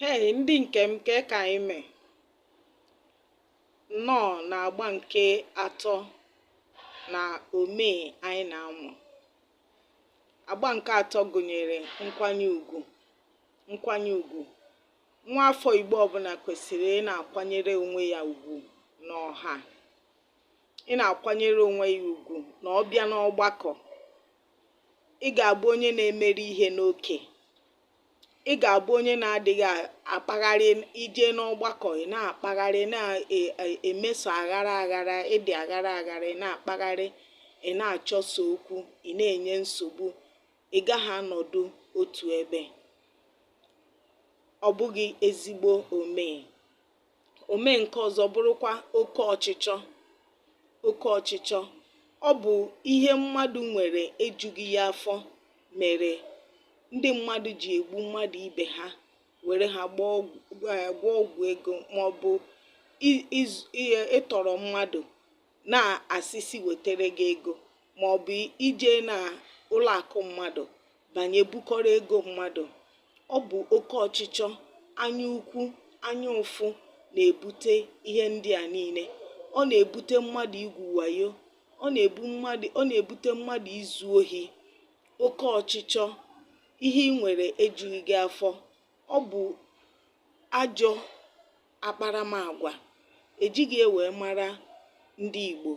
Hei ndị nke m kee ka anyị mee nnọọ na agba nke atọ na omee anyị na-amụ agba nke atọ gụnyere nkwanye ugwu nkwanye ugwu nwa afọ Igbo ọbụla kwesịrị ị na-akwanyere onwe ya ugwu n'ọha ị na-akwanyere onwe ya ugwu na ọ bịa n'ọgbakọ ị ga-abụ onye na-emeri ihe n'oke ị ga-abụ onye na-adịghị akpagharị ije n'ọgbakọ ị na-akpagharị na-emeso aghara aghara ịdị aghara aghara ị na-akpagharị ị na-achọso okwu ị na-enye nsogbu ị gaghị anọdụ otu ebe ọ bụghị ezigbo omee Omee nke ọzọ bụrụkwa oke ọchịchọ. Oke ọchịchọ ọ bụ ihe mmadụ nwere ejughị ya afọ mere ndị mmadụ ji egbu mmadụ ibe ha were ha gwọọ ọgwụ ego maọbụ ịtọrọ mmadụ na-asị sị wetere gị ego ma ọ bụ ije na ụlọ akụ mmadụ banye bukọrọ ego mmadụ ọ bụ oke ọchịchọ anya ukwu anya ụfụ na-ebute ihe ndị a niile ọ na-ebute mmadụ igwu wayo ọ na-ebute mmadụ izu ohi oke ọchịchọ ihe ị nwere ejughị gị afọ ọ bụ ajọ akparamagwa ejighị ya wee mara ndị Igbo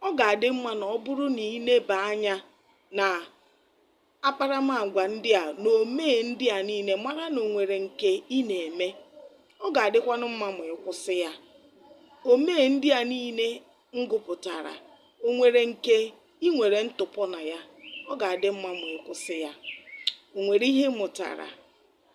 ọ ga-adị mma na ọ bụrụ na ị leba anya na akparamagwa ndị a na omee ndị a niile mara na o nwere nke ị na-eme ọ ga-adịkwanụ mma ma ị kwụsị ya omee ndị a niile m gụpụtara o nwere nke ị nwere ntụpọ na ya ọ ga-adị mma ma ị kwụsị ya o nwere ihe ị mụtara